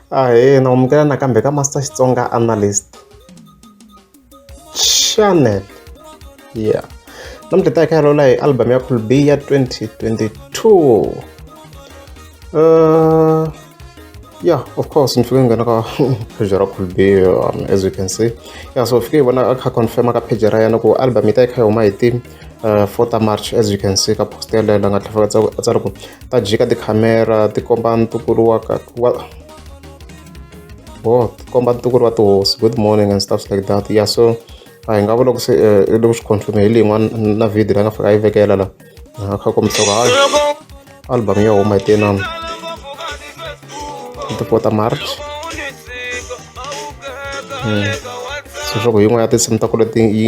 Ahee, na amukela nakambe ka Master Xitsonga Analyst Channel. Yeah. Namuntlha hi ta hi kha hi lawula hi album ya Cool B ya 2022. Uh, yeah, of course, ni fike ni nghena ka page ra Cool B um, as you can see. Yeah, so fike hi vona a kha confirm ka page ra yena ku album yi ta yi kha yi huma hi ti uh, 4 march as you can see ka post yaleyo la nga tlhela a tsari ku ta jika tikhamera ti komba ntukulu wa ka wa oh ti komba ntukulu wa tihosi good morning and stuff like that yeah so a hi nga vula ku se eh, i le ku swi confirme hi leyi n'wana na video la nga fika a yi vekela la a kha kombisa ku hayi album ya huma hi tenani ti 4 ta march hmm. so swa ku yin'wana ya tinsimu ta ku leti yi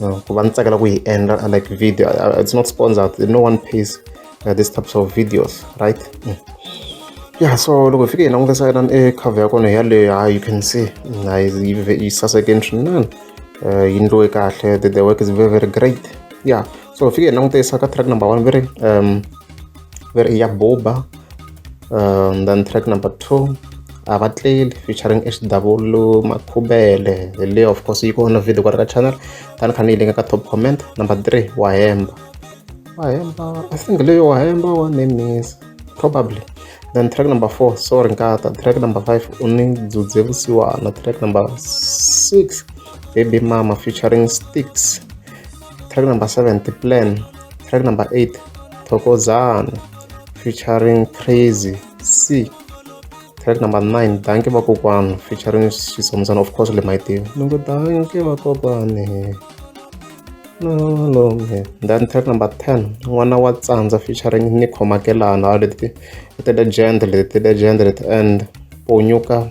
uh, ku va ni tsakela ku yi endla uh, like video uh, it's not sponsored no one pays uh, this types of videos right mm. yeah so loko hi fike hi langutisa yona e eh, cover ya kona yaleyo ha you can see yi saseke ni swinene uh, yi ndliwe kahle the, the work is very very great yeah so hi fike hi langutisa ka track number one very um where ya buba um, then track number two avatleli featuring xw makhubele hi leyo of course yi kona video kwala ka channel tani kha ni yi linga ka top comment number three wahemba wahemba i think leyo wahemba wa nemisa probably then track number four sorry nkata track number five u ni dzudze vusiwana track number six baby mama featuring sticks track number 7 the plan track number 8 thokozani featuring crazy c track number 9 danke vakokwani featuring xisomuzana of course le mayitiva ni ngo danke vakokwani nalome then track number 10 n'wana wa tsandza featuring ni khomakelana leti ti legend leti ti legend leti and ponyuka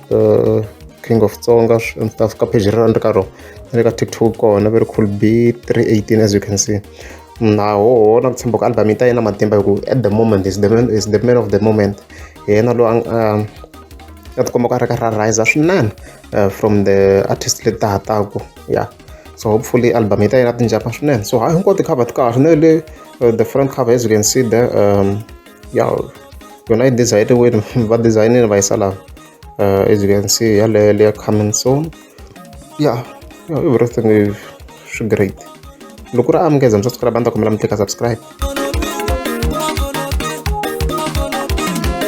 uh, king of tsonga and stuff ka page rero ni ri ka rona ni le ka tiktok kona very cool b 318 as you can see naho na ku tshemba ku album yi ta yena matimba hi ku at the moment is the man, is the man of the moment hi yena loyi um, a tikomba ku a ri ka ra riser swinene uh, from the artist leti ta hataku yeah so hopefully album yi ta yena tinjapa swinene so hayi hinkwato ti-cover ti kahle na le uh, the front cover as you can see the um, ya yona i design wini va designile va yisa laha uh, as you can see yaleyo leya coming soon ya ya everything is great loko ri amukeza mi subscribe a ni ta kombela mi tlika subscribe